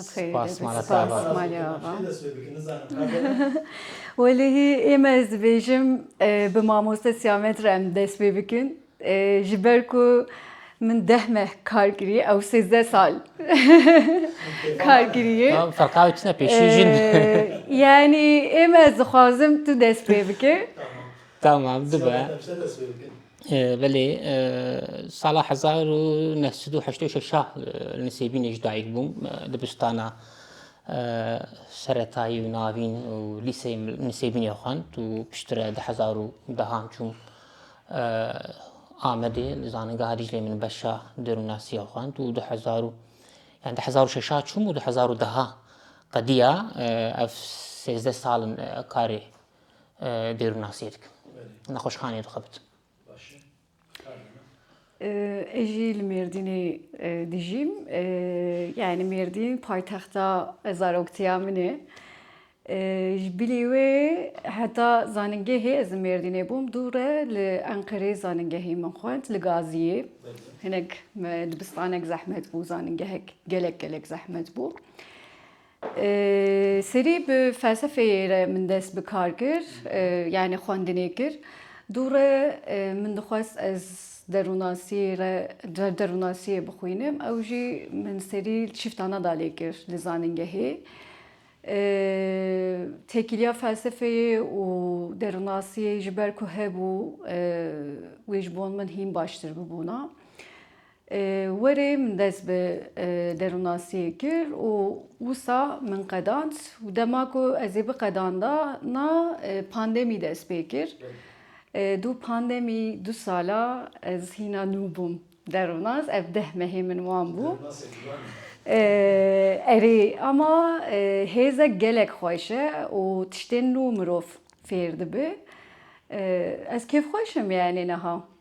Spas mala te ava. Spas malê ava. Welêhî ême ez dibêjim bi mamoste Sîyamet re em dest pê bikin. Ji ber ku min deh meh kar kirî ew sêzdeh sal kar kirî. Ferqa wê tune pêşî jin. Yanî ême ez dixwazim tu dest pê bike. Tamam dibe. Belê, sala hezar û neh sed û heşt û şeş a li Nisêbînê ji dayik bûm. Dibistana seretayî û navîn û lîseyê li Nisêbînê xwend û piştre di hezar û deh an çûm Amedê li Zaningeha Dîcleyê min beşa Dêrûnnasîya xwend û di hezar û yani di hezar û şeş a çûm û di hezar û deh a qediya ev sêzdeh sal in karê Dêrûnnasiyê dikim. Nexweşxaneyê dixebit. Ez jî li Mêrdînê dijîm. Yanî Mêrdîn paytexta zaroktiya min e. Ji bilî wê heta zanîngehê ez li Mêrdînê bûm dûr e. Li Enqereyê zanîngehê min xwend li Gaziyê. Hinek dibistanek zehmet bû, zanîngehek gelek gelek zehmet bû. Serî bi felsefeyê re min dest bi kar kir, yanî xwendinê kir. Dûre min dixwest ez derûnasî re derûnasîyê bixwînim ew jî min serî şifta neda lê kir li zanîngehê. Têkiliya felsefeyê û derûnasîyê ji ber ku hebû wê ji bo min hîn baştir bibûna. Werê min dest bi derûnnasiyê kir û wisa min qedand û dema ku ez ê biqedandana pandemî dest pê kir. Dû pandemî du sala ez hîna nû bûm derûnas ev deh mehê min wan bû. Erê ama hêzek gelek xweş e û tiştên nû mirov fêr dibe. Ez kêfxweş im yanî niha.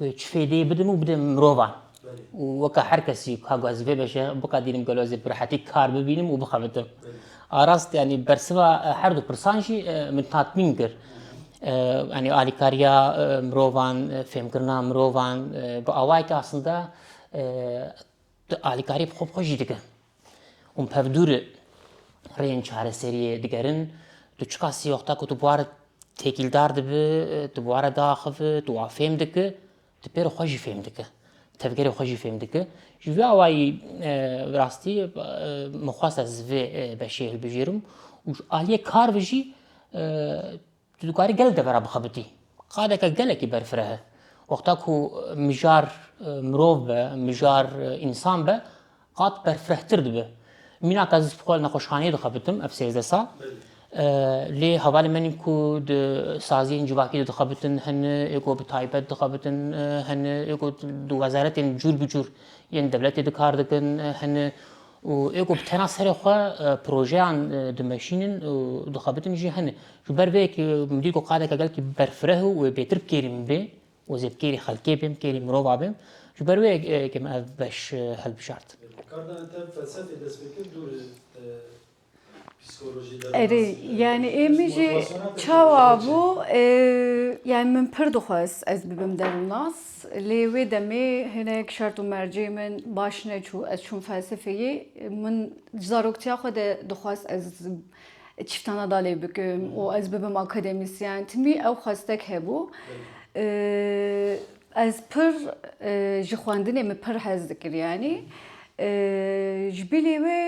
Ew çi fêdeyê bidim û bidin mirovan. û weka her kesî ka guhezim pê veşe biqedînim gelo ez ê bi rehetî kar bibînim û bixebitim. A rast yanî bersiva her du pirsan jî min tatmîn kir. Yanî alîkariya mirovan, fêmkirina mirovan bi awayeke aslinde tu alîkariyê bi xwe bi xwe jî dikin. Hûn pevdûr rêyên çareseriyê digerin. Tu çika sîyoxta ku tu buwar têkîldar dibi, tu buwara diaxivi, tu wa fêm diki, tu pêro xwe jî fêm diki. Tevgerê xwe jî fêm diki. Ji vê awayî bi rastî min xwest ez vê beşê hilbijêrim û aliyê kar ve jî Tu dikarî gelek devera bixebitî. Qadeke gelekî berfireh e. Wexta ku mijar mirov be, mijar însan be, qad berfirehtir dibe. Mîna ka ez xwe li nexweşxaneyê dixebitim ev sêzdeh sal. Lê hevalên me nîn ku di saziyên civakî de dixebitin, hene ê ku bi taybet dixebitin, hene ê ku di wezaretên cûr bi cûr yên dewletê de kar dikin, hene Û ê ku bi tena serê xwe projeyan dimeşînin û dixebitin jî hene. Ji ber vê yekê min dît ku qadeke gelkî berfireh û wê bêtir bi kêrî min bê û ez ê bi kêrî xelkê bêm, bi kêrî mirova bêm. Ji ber vê yekê min ev beş hilbijart. Kardanê te felsefê dest pê kir dûr e. Erê yani ê min jî çawa bû yani min pir dixwest ez bibim derûnas lê wê demê hinek şert û mercê min baş neçû ez çûm felsefeyê min ji zaroktiya xwe de dixwest ez çîftana da lê bikim û ez bibim akademîsyen timî ew xwestek hebû ez pir ji xwendinê min pir hez dikir yanî ji bilî wê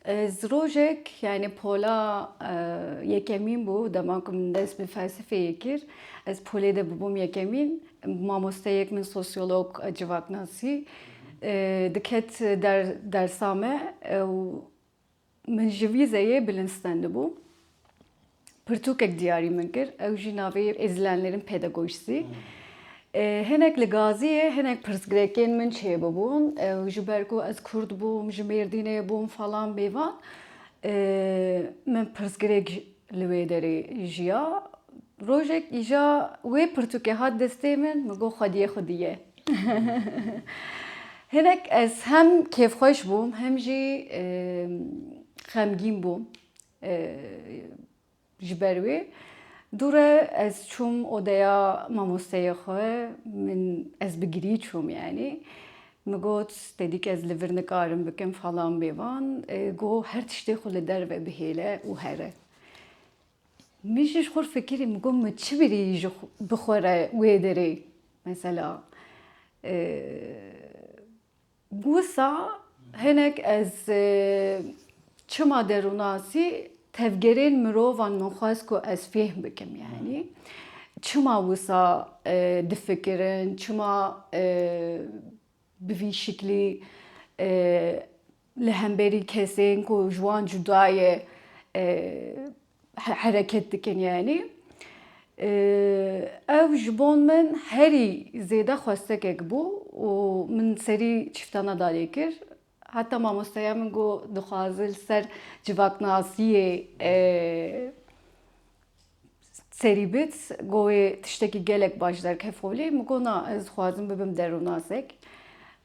Ez rojek yani pola yekemîn bû dema ku min dest bi felsefeyê kir. Ez polê de bûbûm yekemîn. Mamosteyek min sosyolog a civaknasî diket der dersa me û min ji vîzeyê bilind stendibû. pirtûkek diyarî min kir, ew jî navê Îzlenlerin Pedagojisi. Hinek li Gaziyê hinek pirsgrekên min çêbûbûn ew ji ber ku ez kurd bûm, ji Mêrdînê bûm falan bêvan. Min pirsgirêk li wê derê jiya. Rojek îja wê pirtûkê hat destê min, min got xwediyê xwedî ye. Hinek ez hem kêfxweş bûm hem jî xemgîn bûm. Ji ber wê dû re ez çûm odeya mamosteyê xwe. Min ez bi girî çûm yanî. Min got tedîk ez li vir nikarim bikim falan bêvan. Got her tiştê xwe li derve bihêle û here. Min jî ji xwe re fikirî min got min çi birî bi xwe re wê derê mesela. Wisa hinek ez çima derûnasî tevgerên mirovan min xwest ku ez fêhm bikim yanî çima wisa difikirin çima bi vî şiklî li hemberî kesên ku ji wan cuda ye hereket dikin yanî ev ji bo min herî zêde xwestekek bû û min serî çîfta nedarê kir. Heta mamosteya min got dixwaze li ser civaknasiyê serî bit got wê tiştekî gelek baş derkefolî min got na ez dixwazim bibim derûnasek.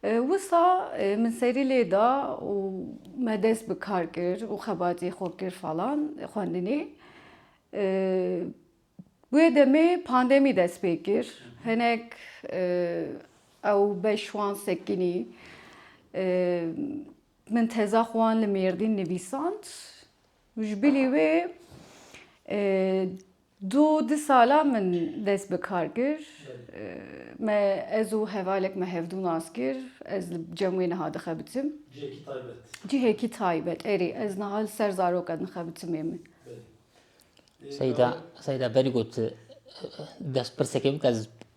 Wisa min serî lê da û me dest bi kar kir û xebatê xwe kir falan xwendinê. Wê demê pandemî dest pê kir. Hinek ew beş wan sekinî. Min teza xwe wan li Mêrdîn nivîsand. Ji bilî wê Du di sala min dest bi kar kir. Me ez û hevalek me hevdû nas kir. Ez li cem wê niha dixebitim. Cihekî taybet. Cihekî taybet erê ez niha li ser zaroka dixebitimê min. Seyda Seyda berî got destpirsekê bike ez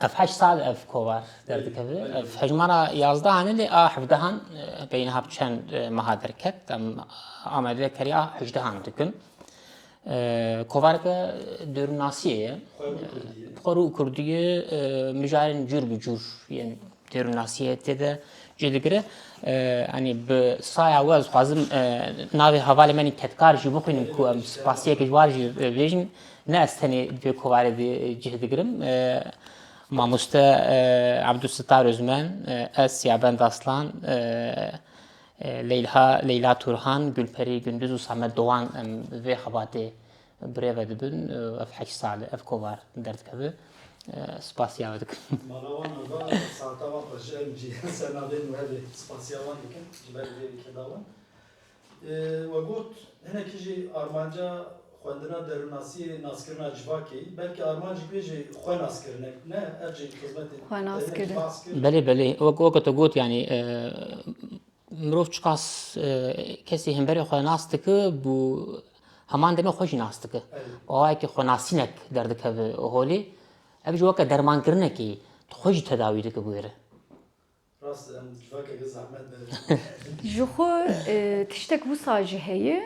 Ev heşt sal ev kovar derdikeve. Ev hejmara yazdehan e lê a hevdehan e, beyniha bi çend e, meha derket. Em amedê keriya hejdehan dikin. E, kovareke dêrûnnasiyê ye. Xwe rû kurdiyê e, mijarên cûr bi cûr yên dêrûnnasiyê tê de cih digire. Anî bi saya we ez xwazim navê hevalê me nî Tedkar jî bixwînim ku em spasiyeke ji war jî bêjin. Ne ez tenê di vê kovarê de cih digirim. Mamoste Ebdûsittar Ozmen, ez Siyabend Aslan, Leyla Leyla Turhan, Gulperî Gunduz û Samet Dowan em vê xebatê birêve dibin. Ev heşt sal e ev kovar derdikeve. Spasiya we dikim. Mala wan a va saeta wan xwe ji em cî ser navê nû hevê spasiya wan dikim ji ber vê lîkeda wan. We got, hinekî jî armanca xwendina derûnnasîyê naskirina civakê, belkî armancîk wê jî xwenaskirin e, ne ev jî xizmetê Xwenaskirin. Belê belê, wek weke tu got yanî mirov çiqas kesî hemberê xwe nas dike bû heman demê xwe jî nas dike. Awayekî xwenasînek derdikeve holê. Ev jî weke dermankirinekî tu xwe jî tedawî dike bi wê re. Rast e em civakeke zehmet ne dijîn. Ji xwe tiştek wisa jî heye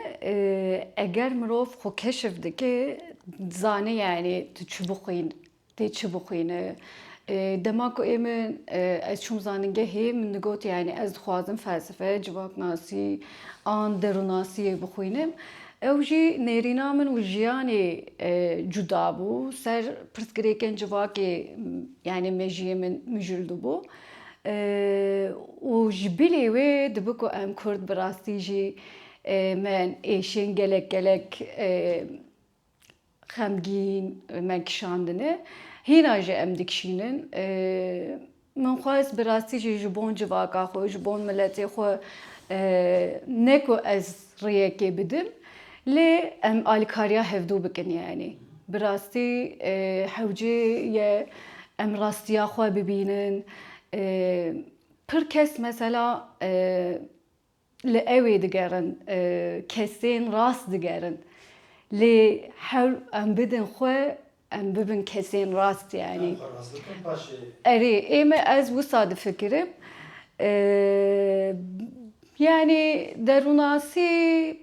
eger mirov xwe keşf dike dizane yanî tu çi bixwîn tê çi bixwîne. Dema ku ê min ez çûm zanîngehê min digot yanî ez dixwazim felsefe, civaknasî an derûnasîyê bixwînim. Ew jî nêrîna min û jiyanê cuda bû. Ser pirsgirêkên civakê yanî mejiyê min mijildibû û ji bilî wê dibi ku em kurd bi rastî jî me ên êşên gelek gelek Xemgîn me kişandine, hîna jî em dikişînin. Min xwest bi rastî jî ji bon civaka xwe, ji bon miletê xwe ne ku ez rêyekê bidim lê em alîkariya hevdû bikin yanî. Bi rastî hewcê ye em rastiya xwe bibînin. Pir kes mesela Li ewê digerin, kesên rast digerin. Lê her em bidin xwe em bibin kesên rast yanî. Erê ême ez wisa difikirim. Yanî derûnasî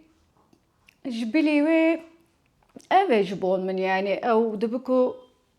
ji bilî wê ev e ji bo min yanî ew dibi ku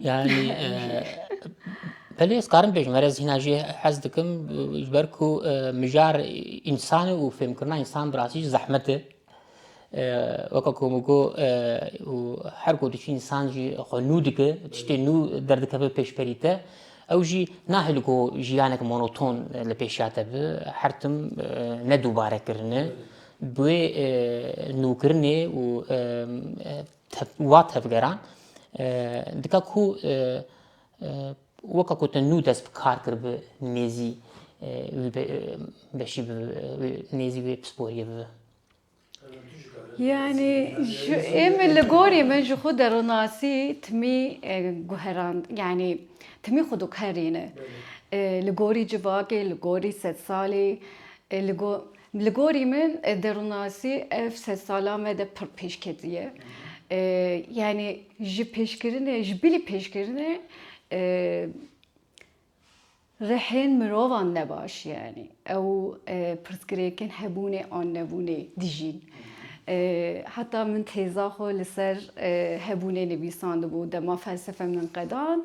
Yani Pelê ez karim bêjim erez hîna jê hez dikim ji ber ku mijar însanê û fêmkirina însan bi rastî jî zehmet e. Weka ku min got û her ku diçî însan jî xwe nû dike, tiştê nû derdikeve pêşberî te. Ew jî nahê li ku jiyanek monoton li pêşiya te bi, her tim ne dûbare kirine. Bi wê nûkirinê û Wa tevgeran dika ku weka ku te nû dest bi kar kir bi nêzî wî beşî bi nêzî wê pisporiyê bibe. Yanî êmî li gorî min ji xwe deronasî timî guherand yanî timî xwe diguherîne li gorî civakê li gorî sedsalê li Li gorî min derûnnasî ev sed salan me de pir pêş ketiye. Yanî ji pêşkirinê, ji bilî pêşkirinê rihên mirovan ne baş yanî. Ew pirsgirêkên hebûnê an nebûnê dijîn. Heta min têza xwe li ser hebûnê nivîsandibû dema felsefe min qedand.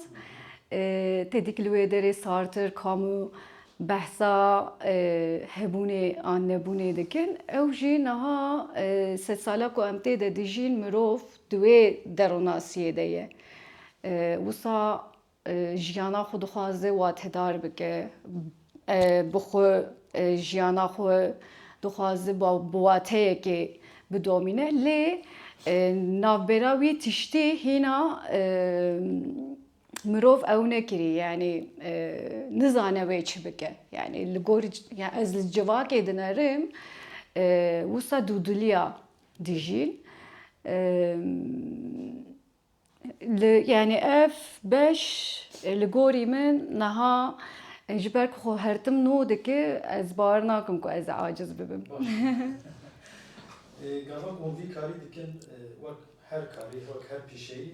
Têdî ki li wê derê Sartre, Camus behsa hebûnê an nebûnê dikin ew jî niha sed sala ku em tê de dijîn mirov di wê deronasiyê de ye. Wisa jiyana xwe dixwaze watedar bike, bi xwe jiyana xwe dixwaze bi wateyekê bidomîne lê navbera wî tiştî hîna mirov ew nekirî yanî nizane wê çi bike yanî li gor ez li civakê dinerim wisa dûdiliya dijîn li yanî ev beş li gorî min niha ji ber ku xwe hertim no dike ez bawer nakim ku ez aciz bibim. Gava wan vî karî dikin wek her karî wek her pîşeyî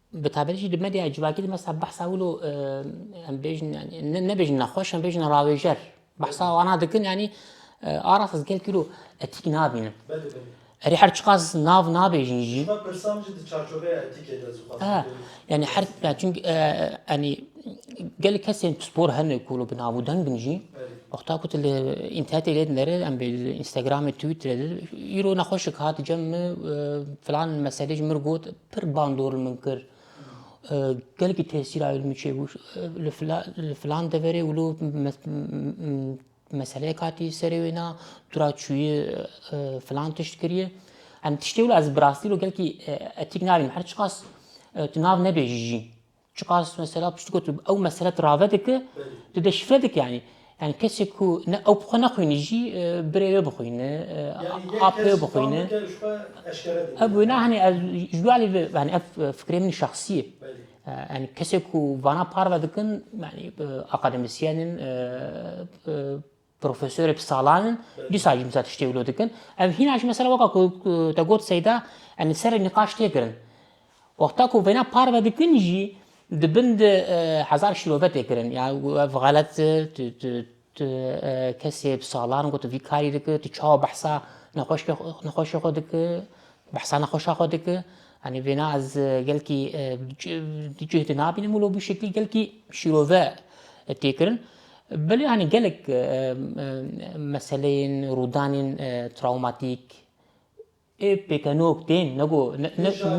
Bi taybetî jî di medyaya civakî de mesela behsa wilo em bêjin yanî nebêjin nexweş em bêjin rawêjer behsa wana dikin yanî aras ez gelkî wilo etîk nabînim. Erê her çiqas nav nabêjin jî. Pirsam jî di çarçoveya etîkê de zixwaz. Yanî her ya çink yanî gel kesên pispor hene ku bi nav û dengin jî wexta ku tu li înternetê lê dinere em bê li Instagramê, Twitterê de îro nexweşik hat cem min filan meselê ji min got Pir bandor li min kir. Gelekî tesîr aye li min çêbû. Li filan deverê wilo meseleyek hatî serê wê na, tu ra çûyî filan tişt kirî. Em tiştê wilo ez bi rastî wilo gelekî etîk nabînim. Her çiqas tu nav nebêjî jî. Çiqas mesela piştî ku tu ew mesele tu rave dike, tu deşifre dike yanî. Yani kesê ku ne ew bi xwe nexwînî jî birê wê bixwîne, apê wê bixwîne. Ev wêna hani ez ji wê alî yani ev fikrê min şexsî ye. Yani kesê ku vana parve dikin yani akademisyen in Profesorê bi salan in, dîsa jî misa tiştê wilo dikin. Ev hîna jî mesela weka ku te got Seyda, em li ser nîqaş tê kirin. Wexta ku vêna parve dikin jî di bin de hezar şîrove tê kirin. Ya ev xelet e, tu tu tu kesê bi salan ku tu vî karî dikî, tu çawa behsa nexweşkê nexweşê xwe dikî, behsa nexweşa xwe dikî. Yanî vêna ez gelkî di cih de nabînim wilo bi şeklî gelkî şîrove tê kirin. Belê anî gelek meseleyên rûdanên trawmatîk ê pêkenok tên nego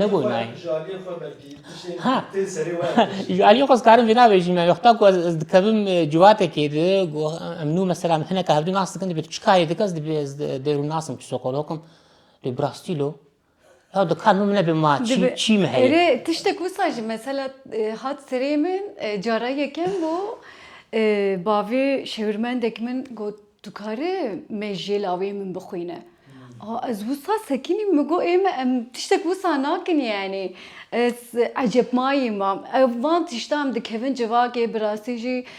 nego nayê. Jaliyê xwe belkî tiştên Ha. tên serê we ya tişt. Ji aliyê xwe ez karim vê navêjim yani wexta ku ez ez dikevim e, ciwatekê di ku em nû mesela em hineka hevdû nas dikin dibê tu çi karê dike ez dibê ez dê rû nasim psîkologim lê bi rastî lo Ya dikar min nebe ma çî çî min heye. Erê tiştek wisa jî mesela hat serê min cara yekem bû bavê şêwirmendek min got tu karî mêjê lawê min bixwîne. A ez wisa sekinîm min got ê me em tiştek wisa nakin yanî ez ecebmayî mam. Ev van tiştan dikevin civakê bi rastî jî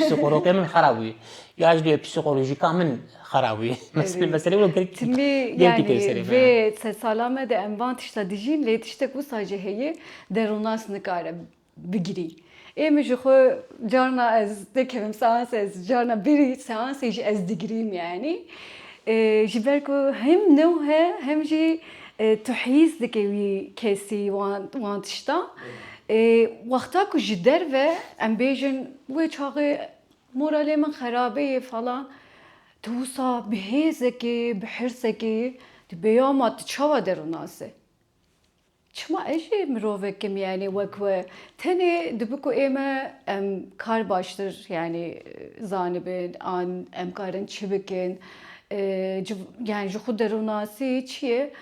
Psîkoloqê min xera bûye. Ya ji duyê psîkolojîka min xera bûye. Meselê meselê wilo girk Tilî girkî tê li serê yani me. vê sed sala me de em van tişta dijîn lê tiştek wisa jî heye derûnas nikare bigirî. Ê min ji xwe carna ez nekevim seans ez carna bêrî seansê jî ez digirîm yanî. Ji ber ku hem new he hem jî tu hîs dikî wî kesî wan wan tişta. Ê wexta ku ji derve em bêjin wê çaxê moralê min xerabê ye falan tu wisa bi hêzekê bi hirsekê tu peyama tu çawa der û nas e? Çima ez jî mirovekim yanî wek we tenê dibi ku ê me em kar baştir yanî zanibin an em karin çi bikin yani ji xwe derûnasî çi ye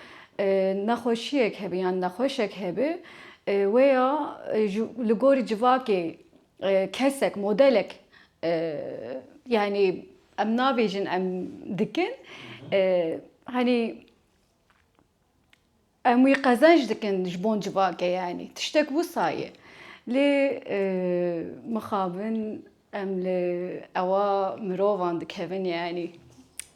Nexweşiyek hebe yan nexweşek hebe wê ya li gorî civakê kesek modelek yanî em nabêjin em dikin hanî em wî qezenc dikin ji bo civakê yanî tiştek wisa ye. Lê mixabin em li ewa mirovan dikevin yanî.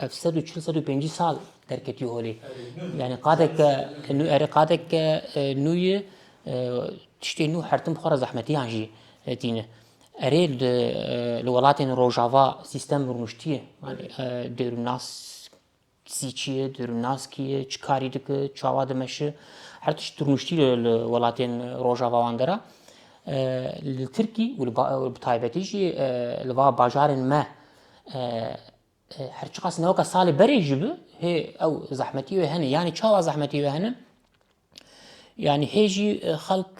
Ev sed û çil sed û pêncî sal derketiye holê. Yani qadek nû erê qadek nûyê tiştê nû hertim xwe re zehmetiyan jî tîne. Erê li welatên rojava sîstem rûniştiye. Yani dêrûnas sî çi ye, dêrûnas kî ye, çi karî dike, çawa dimeşi. Her tişt rûniştiye li welatên rojava wan de re. Li Tirkî û bi taybetî jî li va bajarên me her çiqas newka salê berê jî bi hê ew zehmetî wê hene yanî çawa zehmetî wê hene yanî hê jî xelk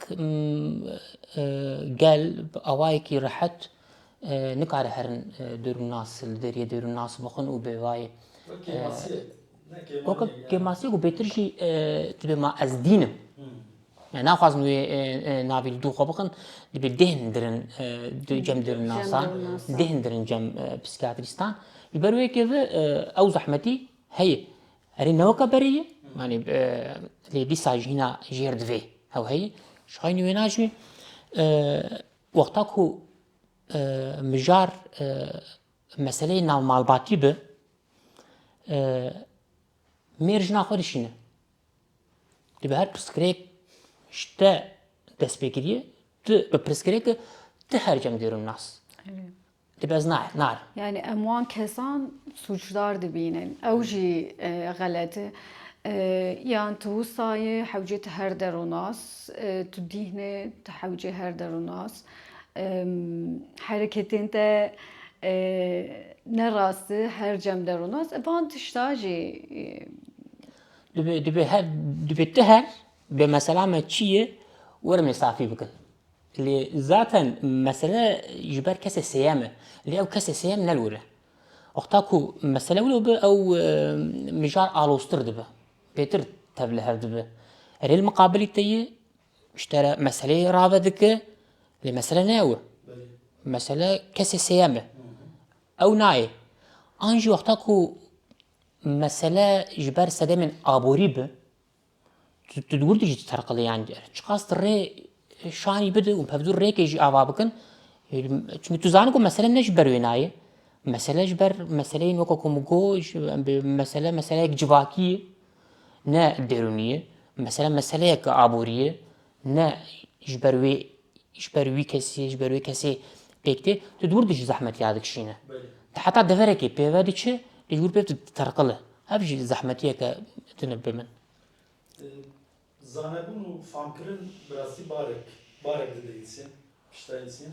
gel bi awayekî rehet nikare herin dêrûnnas li deriyê dêrûnnas bixin û bêvayê weke kêmasiyek û bêtir jî tibê ma ez dînim Yani naxwazin wê navê li dû xwe bikin, dibê dêhn dirin cem dirin nasan, dêhn dirin cem psîkiyatrîstan. Li ber wê keve ew zehmetî heye. Erê neweka berê ye, yani lê dîsa jî hîna jêr divê ew heye. Ji xeynî wê nacî wexta ku mijar meseleyê navmalbatî bi mêr jina xwe dişîne. Di bi her pirsgirêk ji te dest pê kiriye, tu bi pirsgirêk ti her cem dêrim nas. Di bez nae, nar. Yani em wan kesan suçdar dibînin. Ew jî xelet e. Yan tu wisayê hewcê ti her der û nas, tu dîhnê ti hewcê her der û nas. Hereketên te ne rast e, her cem der û nas. Van tişta jî. Divê divê her divê ti her bê mesela me çi ye werin ê safî bikin. Lê zaten mesele ji ber kesê sêyem e. Lê ew kesê sêyem nelwire. Wexta ku mesele wilo bi ew mijar aloztir dibe. Pêtir tev li hev dibe. Erê li miqabilî te yê ji te re meseleyê rave dike lê mesele ne ew e. Mesele kesê sêyem e. Ew nayê. An jî wexta ku Mesele ji ber sedemên aborî bi, tu di wir de jî diterqile yan ger çiqas tu rê şanî bide û pevdûr rêkê jî ava bikin. Çimkî tu zanî ku mesele ne ji ber wê nayê. Mesele ji ber meseleyên weka ku min got mesele meseleyek civakî ye ne derûnî ye. Mesele meseleyeke aborî ye. ne ji ber wê ji ber wî kesî ji ber wê kesê pêk tê tu dûr dijî zehmet ya dikişîne. Tu heta deverekê pêve diçi tu ji wir pêv diterqile. Ev jî zehmetiyeke tune bi min. Zanebûn û famkirin bi rastî barek barek dide însiyan pişta însiyan.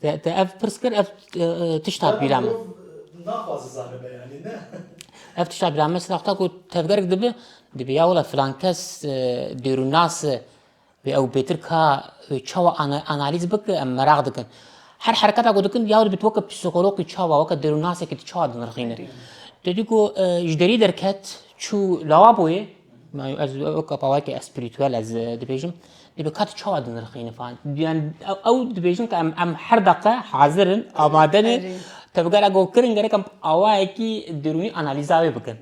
Te ev pirs kir ev tişta bîra min. Naxwaze zane be yani ne. Ev tişta bîra min sina ku tevgerek dibi dibi ya wala filan kes dêrûnas ve ew bêtir ka çawa analîz bike em meraq dikin. Her hereketa ku dikin ya dibit weke psîkologî çawa weke dêrûnasekî tu çawa dinirxîne. Te dî ku ji derî derket çû lawaboyê Ez weke pawayeke espirîtûel ez dibêjim dê bi kat çawa dinirxînin fan. Yani ew dibêjin ke em em her deqe hazir in, amade ne. Tabi gera go kirin gerek em awayekî derûnî analîza wê bikin.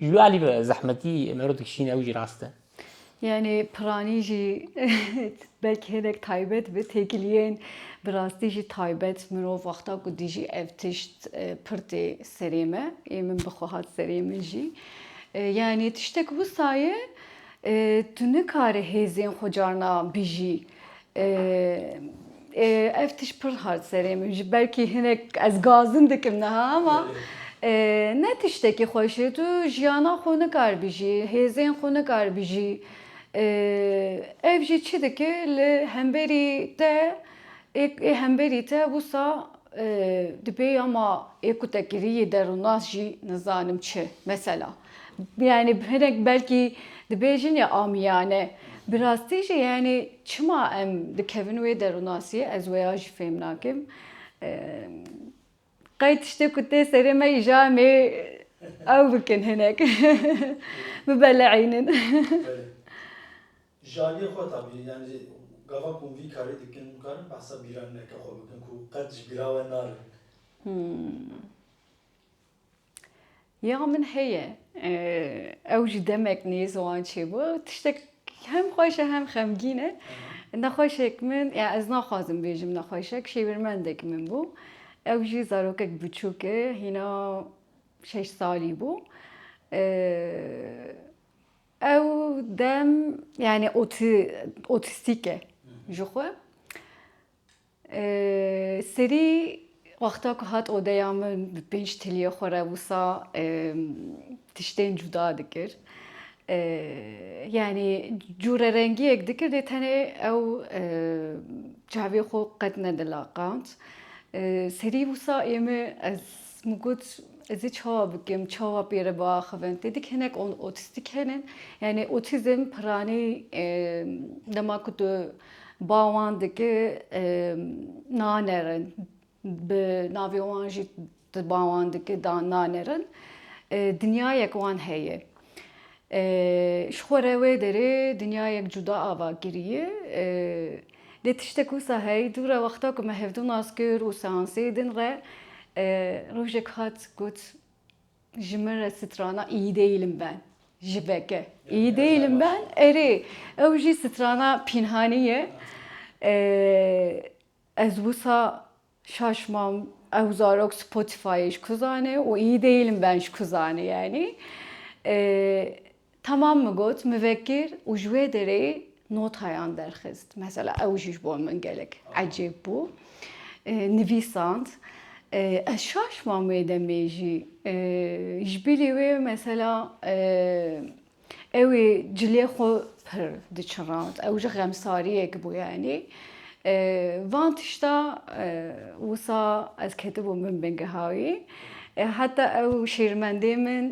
Ji wê alî ve zehmetî mero dikişîne ew jî rast e. Yanî piranî jî belkî hinek taybet be têkiliyên bi rastî jî taybet mirov wexta ku dijî ev tişt pir tê serê me ê min bi xwe hat serê min jî. Yanî tiştek wisa ye tu nikare hêzên xwe carna bijî. Ev tişt pir hat serê min ji belkî hinek ez gazim dikim niha ama ne tiştekî xweş e tu jiyana xwe nikar bijî, hêzên xwe nikar bijî. Ev jî çi dike li hemberî te ê hemberî te wisa Di pêya ma ê ku te kirî yê derûnas jî nizanim çi. Mesela yanî hinek belkî dibêjin ya amîyane bi rastî jî yanî çima em dikevin wê derûnasîyê ez wê ya jî fêm nakim. Qey tiştê ku tê serê me îja em ê ew bikin hinek bibeleînin. Ji aliyê xwe tabî yanî gava ku hûn vî karî dikin hûn karin behsa bîranîneke xwe bikin ku qet ji bîra we narin. Ya min heye. Ew jî demek nêz wan çêbû. Tiştek hem xweş e hem xemgîn e. Nexweşek min ya ez naxwazim bêjim nexweşek şêwirmendek min bû. Ew jî zarokek biçûk e hîna şeş salî bû. Ew dem yanî otî otîstîk e ji xwe. Serî wexta ku hat odeya min bi pênc tiliyê xwe re wisa tiştên cuda dikir. Yanî cûrerengiyek dikir lê tenê ew çavê xwe qet nedilaqand. Serî wisa êmi ez Min got ez ê çawa bikim, çawa pê re biaxivin. Tê dik hinek otîstîk hene. Yanî otîzm piranî dema ku tu ba wan dikî nanerin. Bi navê wan jî tu ba wan dikî nanerin. Dinyayek wan heye. Ji xwe re wê derê dinyayek cuda ava kiriye. Lê tiştek wisa heye, dû re wexta ku me hevdû nas kir û seansê din re rojek hat got ji min re strana îyî dêilim ben ji veke. Îyî dêilim ben erê ew jî strana pînhanî ye. Ez wisa Şaş mam ew zarok Spotify'ê ji ku zane û î dêyî li ben ji ku zane yanî. Tamam min got mivekir û ji wê derê notayan derxist. Mesela ew jî ji bo min gelek ecêb bû. Nivîsand. Ez şaş mam wê demê jî. Ji bilî wê mesela Ew ê cilê xwe pir diçirand. Ew ji xemsariyek bû yanî. Van tişta wisa ez ketibûm bin bingeha wî. Heta ew şêrmendê min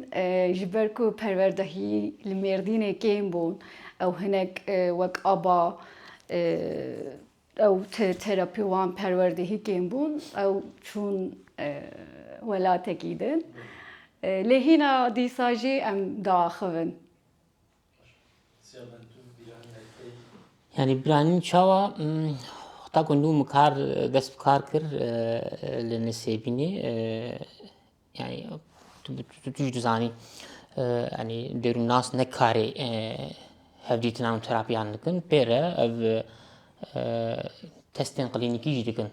ji ber ku perwerdehî li Mêrdînê kêm bûn ew hinek wek aba Ew terapi wan perwerdehî kêm bûn. Ew çûn welatekî din. Lê hîna dîsa jî em diaxivin. Yanî biranîn çawa heta ku nû min kar dest bi kar kir li Nisêbînê Yani tu, tu, tu jî dizanî yani derûnnas ne karê hevdîtina û terapiyan dikin pê re ev testên qilînîkî jî dikin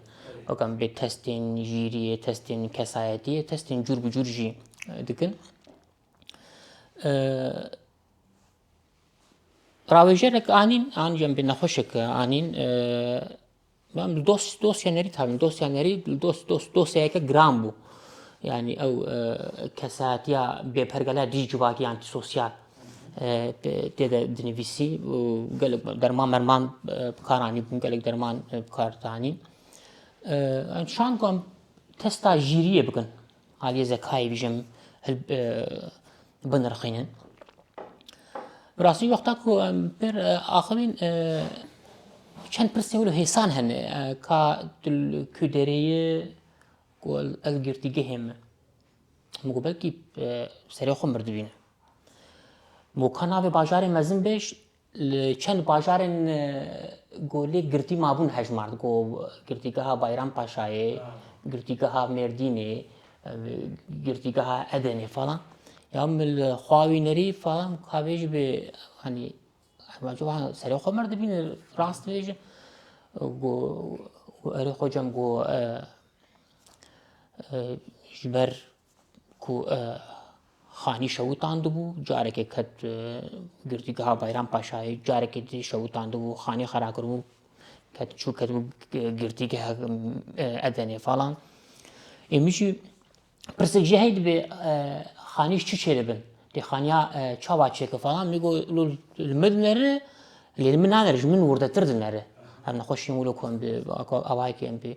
wekam bê testên jîriyê testên kesayetiyê testên cûr bi cûr jî dikin rawêjerek anîn an jî em bê nexweşek anîn Em li dos dosya nerî tabîn. Dosya nerî li dos dos dosyayeke giran bû. Yani ew kesatiya bêpergala dî civakî yan sosyal tê de dinivîsî û gelek derman merman bikaranî bûn, gelek derman bikar danîn. Em şan ku em testa jîriyê bikin. Aliyê Zekayê bîjim hil binirxîne. Bi rastî wexta ku em pir axivîn çend pirsên wilo hêsan hene ka tu li ku derê yê ku ez girtîgehê me. Min got belkî serê xwe mirdibîne. Got ka navê bajarê mezin be Li çend bajarên Golê girtî mabûn hejmar digo Girtîgeha Bayrampaşayê, Girtîgeha Mêrdînê, Girtîgeha Edenê falan. Ya min li xwawînerî falan kavê ji bê hanî serê xwe mir dibîn rast bêjim. Go erê xwe cem go ji ber ku Xanî şewitandibû, carekê ket e, girtîgeha Bayram Paşayê, carekê dî şewitandibû, Xanî xera kiribû, ket çû ketibû girtîgeha Edenê falan. Ê min jî pirsik jî hey dibê Xanî çi çêdibin? Dê Xaniya çawa çêke falan min got li min dinere lê li min nanere ji min wirdetir dinere. Em nexweşîn wilo ku em bi awayekê em bi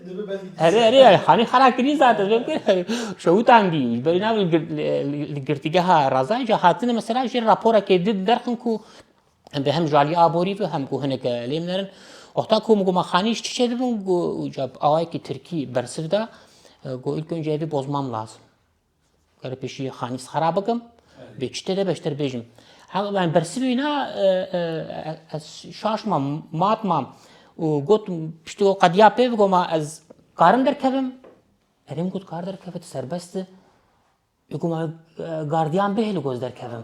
Erê erê hanî xera kirî zaten vê bikir şewtan dî berî nav li girtîgeha razayê ca hatine mesela jê raporekê di derxin ku em bi hem ji aliyê aborî ve hem ku hineke lê min erin wexta ku min got ma xanî ji çiçe dibin got ca awayekî tirkî bersiv da got ilk önce evî bozmam lazim Kare pêşî xanî sara bikim. Bê çi têde beştir bêjim. Yani bersivî na ez şaş mam, mat mam û got piştî o qediya pê bigo ma ez karim derkevim. Erê min got kar derkeve tu serbest i. Ê got ma gardiyan bihêle goz derkevim.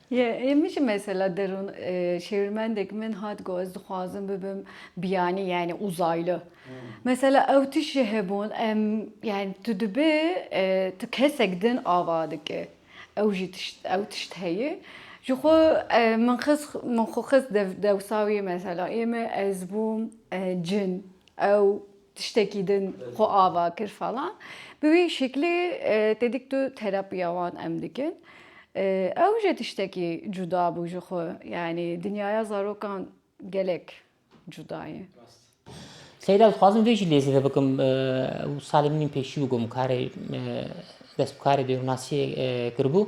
Yê min jî mesela derûn şêwirmendek min hat got ez dixwazim bibim biyanî yanî uzaylı. Mesela ew tiştê hebûn em yanî tu dibê tu kesek din ava dike. Ew jî tişt ew tişt heye. Ji xwe min xis min xwe xist dewsa wî mesela ê min ez bûm cin ew tiştekî din xwe ava kir falan bi wî şiklê tê dik tu terapiya wan em dikin ew jî tiştekî cuda bû ji xwe yanî dinyaya zarokan gelek cuda ye. Seyda ez dixwazim vê jî lê zêde bikim salê min pêşî bû gom karê dest bi karê dêwnasiyê kiribû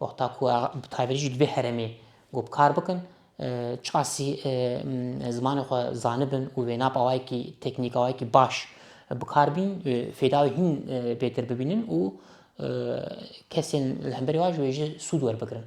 Wexta ku bi taybetî jî divê herêmê ku bi kar bikin çasî zimanê xwe zanibin û wêna bi awayekî teknîk awayekî baş bi kar bîn fêda wê hîn bêtir bibînin û kesên li hemberî wan jî wê jî sûd werbigirin.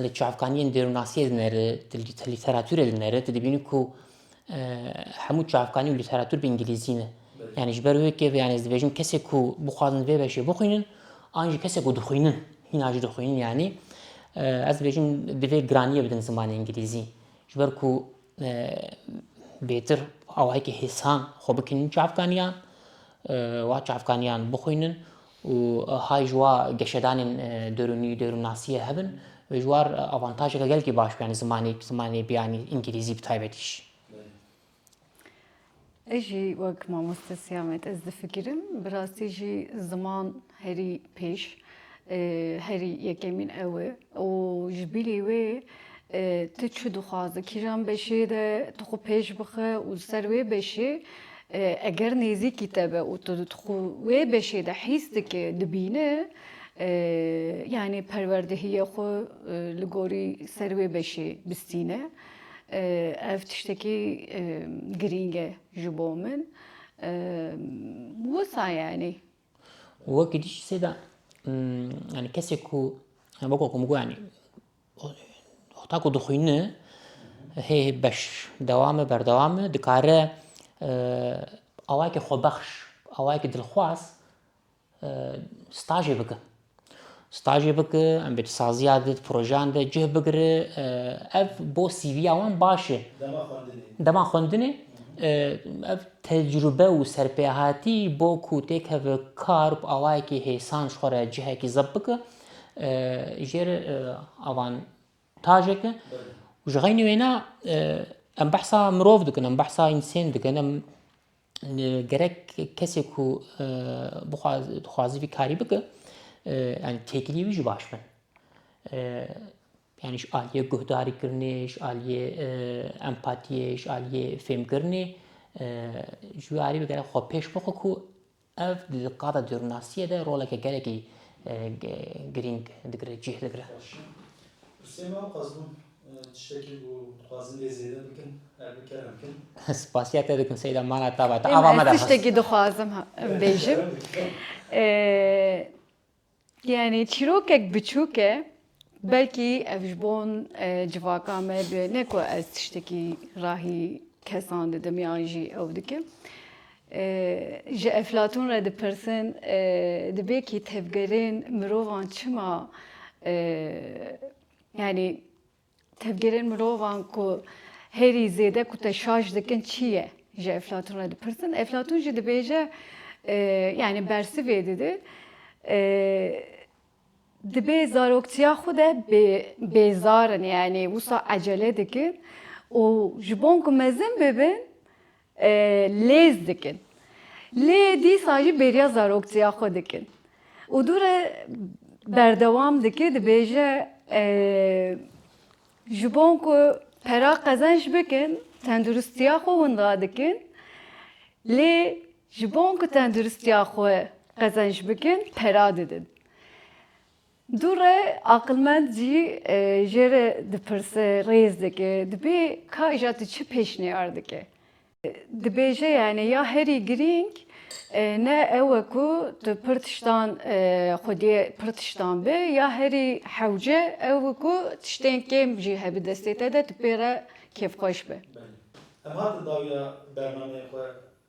li çavkaniyên dêrûnasiyê dineri, di lîteratûrê dineri, tu dibînî ku e, hemû çavkanî û lîteratûr bi îngilîzî ne. Yani ji ber wê kêv yani ez dibêjim kesê ku bixwazin vê beşê bixwînin an jî kesê ku dixwînin hîna jî dixwînin yanî e, ez dibêjim divê giraniyê bidin zimanê îngilîzî ji ber ku e, bêtir awayekî hêsan xwe bikinin çavkaniyan e, wa çavkaniyan bixwînin û hay ji wa geşedanên derûnî û derûnnasiyê hebin ve ji war avantajeke gelkî baş bû yanî zimanê zimanê biyanî îngîlîzî bi taybetî jî. Ez jî wek mamoste Siyamet ez difikirim bi rastî jî ziman herî pêş herî yekemîn ew e. Û ji bilî wê tu çi dixwaze, kîjan beşê de tu xwe pêş bixe û li ser wê beşê eger nêzîkî te be û tu xwe wê beşê de hîs dike, dibîne yanî perwerdehiya xwe li gorî ser wê beşê bistîne. Ev tiştekî girîng e ji bo min. Wisa yanî Wekî dî jî sêda yanî kesê ku weko ku min got yanî heta ku dixwîne hê beş dewam e berdewam e dikare awayekî xwebexş awayekî dilxwaz stajê bike. Stajê bike, em bi saziya di projeyan de cih bigire. Ev bo CVya wan baş e. Dema xwendinê. Dema xwendinê ev tecrube û serpêhatî bo ku têkeve kar bi awayekî hêsan ji xwe re cihekî zebt bike jêr avantajek e. Ji xeynî wêne em behsa mirov dikin, em behsa însên dikin. gerek kesê ku dixwaze vî karî bike yanî têkilî wî jî baş bin. Yanî ji aliyê guhdarîkirinê, ji aliyê empatiyê, ji aliyê fêmkirinê ji wî aliyê gerek xwe pêş bixwe ku ev di qada dêrûnasiyê de roleke gelekî girîng digire, cih digire. Sima Qazibûn, Tiştekî ku dixwazin lê zêde bikin ev bi kerem bikin. Spasiya te dikim Seyda mana tava te ava me de xist. Ez tiştekî dixwazim bêjim. Yanî çîrokek biçûk e belkî ev ji bo civaka me be ne ku ez tiştekî rahî kesan didim yan jî ew dikim. Ji Eflatûn re dipirsin dibê kî tevgerên mirovan çima Yanî tevgêrên mirovan ku herî zêde ku te şaş dikin çi ye? Ji Eflatun re dipirsin. Eflatun jî dibêje e, yanî bersivê dide. E, dibê zaroktiya xwe de bêzarin yanî wisa ecele dikin û ji bon ku mezin bibin lêz dikin. Lê dîsa jî bêriya zaroktiya xwe dikin. Û dû re berdewam dike dibêje ji bon ku pera qezenç bikin tenduristiya xwe winda dikin. Lê ji bon ku tenduristiya xwe qezenç bikin pera didin. Dû re aqilmend jî jê re dipirse, rêz dike, dibê ka îja tu çi pêşniyar dike. Dibêje yanî ya herî girîng ne ew e ku tu pir tiştan xwediyê pir tiştan bi ya herî hewce ew e ku tiştên kêm jî hebe destê te de tu pê re kêfxweş bi. Belê. Em hatin dawiya bernameyên xwe